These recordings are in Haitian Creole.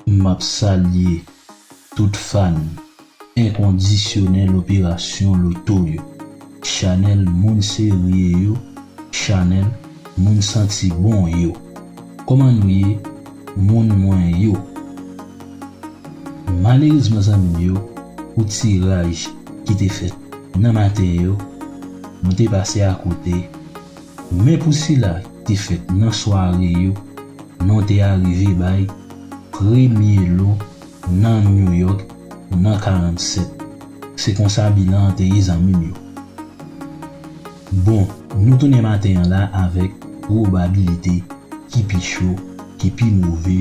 Map salye tout fan enkondisyonèl operasyon loto yo, chanèl moun serye yo, chanèl moun santi bon yo. Koman nou ye moun mwen yo? Malerezman zanmim yo pou tiraj ki te fèt nan maten yo, nou te pase akote. Men pou sila ki te fèt nan sware yo, non te arive bay premye lo nan New York nan 47. Se konsa bilan an te ye zanmim yo. Bon, nou tounen maten an la avèk pwobabilite ki pi cho, ki pi move.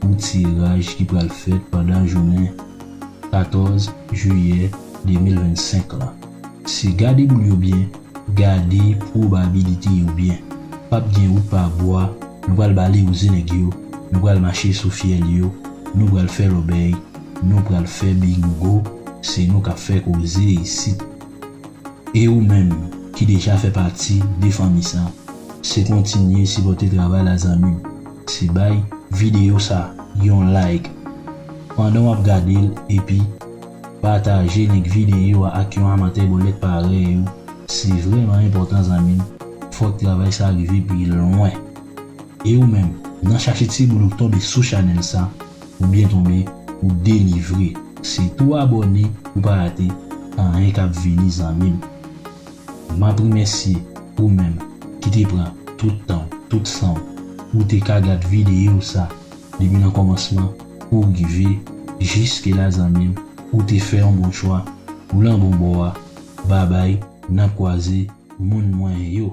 pou tiraj ki pral fèt pandan jounen 14 jiyè 2025 lan. Se gade boul yo byen, gade pwobabilite yo byen. Pap gen wout pa bwa, nou pral balewouze nèg yo, nou pral mache sou fyèl yo, nou pral fè lòbèy, nou pral fè bingo, se nou kap fè koze isit. E ou menm ki deja fè pati de fanmi sa, se kontinye sipòte travay la zanmim. Se bay videyo sa yon like pandan wap gade l epi pataje link videyo a ak yon amantè bòlèt parèy ou se vrèman enpòtan zanmi m fòk travay sa rive pi lwen e ou menm nan chache ti boul ou k tonbe sou chanèl sa ou byen tonbe ou delivre se tou abòne pou pa rate anyen kap vini zanmi m. Map remèsye ou menm ki te pran tout tanw, tout sanw pou w te ka gad videyo sa depi nan kòmansman pouw rive jiske la zanmim ou te fè yon bon chwa ou lan bon bò a babay nan kwaze moun mwen yo.